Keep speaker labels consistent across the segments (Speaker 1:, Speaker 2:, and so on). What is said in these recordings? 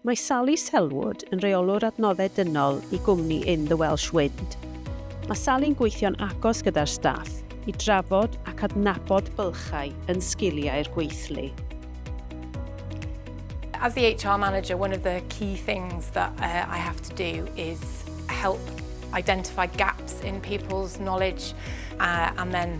Speaker 1: Mae Sally Selwood yn Rheolwr Adnoddau Dynol i gwmni In The Welsh Wind. Mae Sally'n gweithio'n agos gyda'r staff i drafod ac adnabod bylchau yn sgiliau'r gweithlu.
Speaker 2: As the HR manager, one of the key things that uh, I have to do is help identify gaps in people's knowledge uh, and then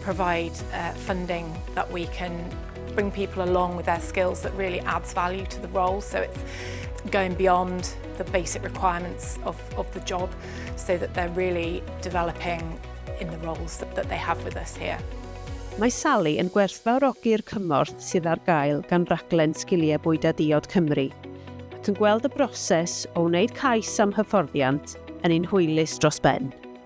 Speaker 2: provide uh, funding that we can bring people along with their skills that really adds value to the role. So it's going beyond the basic requirements of, of the job so that they're really developing in the roles that, that they have with us here. Mae Sally
Speaker 1: yn gwerthfawrogi'r cymorth sydd ar gael gan raglen Sgiliau Bwyd a Diod Cymru ac yn gweld y broses o wneud cais am hyfforddiant yn ein hwylus dros ben.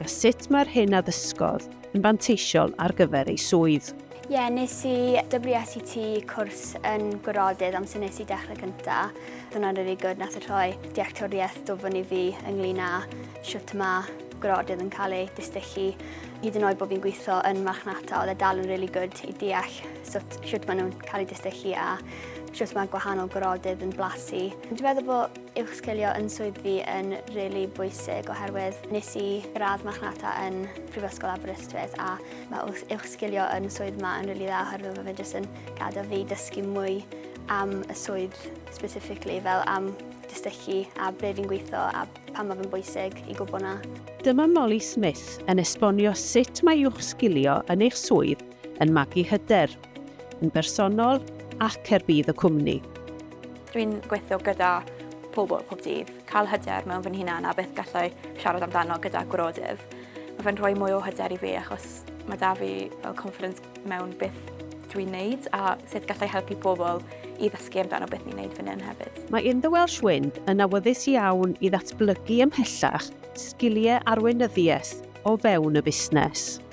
Speaker 1: a sut mae'r hyn a ddysgodd yn fanteisiol ar gyfer ei swydd. Ie, yeah, nes i
Speaker 3: WSET cwrs yn gwrodydd amser nes i dechrau cynta. Dyna'n really good, nath y rhoi dealltwriaeth do fyny fi ynglyn â siwt yma gwrodydd yn cael ei distychu. Hyd yn oed bod fi'n gweithio yn marchnata, oedd e dal yn really good i deall sut, siwt maen nhw'n cael ei distychu a siwt mae gwahanol gwrodydd yn blasu. Dwi'n meddwl bod Uwchsgilio yn swydd fi yn rili bwysig oherwydd nes i gradd marchnata yn Prifysgol Aberystwyth a mae wrth- uwchsgilio yn swydd ma yn rili dda oherwydd mae fe jyst yn gadael fi dysgu mwy am y swydd specifically fel am distychu a ble fi'n gweithio a pam mae fe'n bwysig i gwybod 'na. Dyma Molly
Speaker 1: Smith yn esbonio sut mae uwchsgilio yn eich swydd yn magu hyder, yn bersonol ac er budd y cwmni. Dwi'n
Speaker 4: gweithio gyda pobl pob dydd, cael hyder mewn fy nhunan a beth gallai siarad amdano gyda gwrodydd. Mae fe'n rhoi mwy o hyder i fi achos mae da fi fel confidence mewn beth dwi'n neud a sut gallai helpu pobl i ddysgu amdano beth ni'n neud fan hyn hefyd. Mae In The Welsh Wind
Speaker 1: yn awyddus iawn i ddatblygu ymhellach sgiliau arweinyddiaeth o fewn y busnes.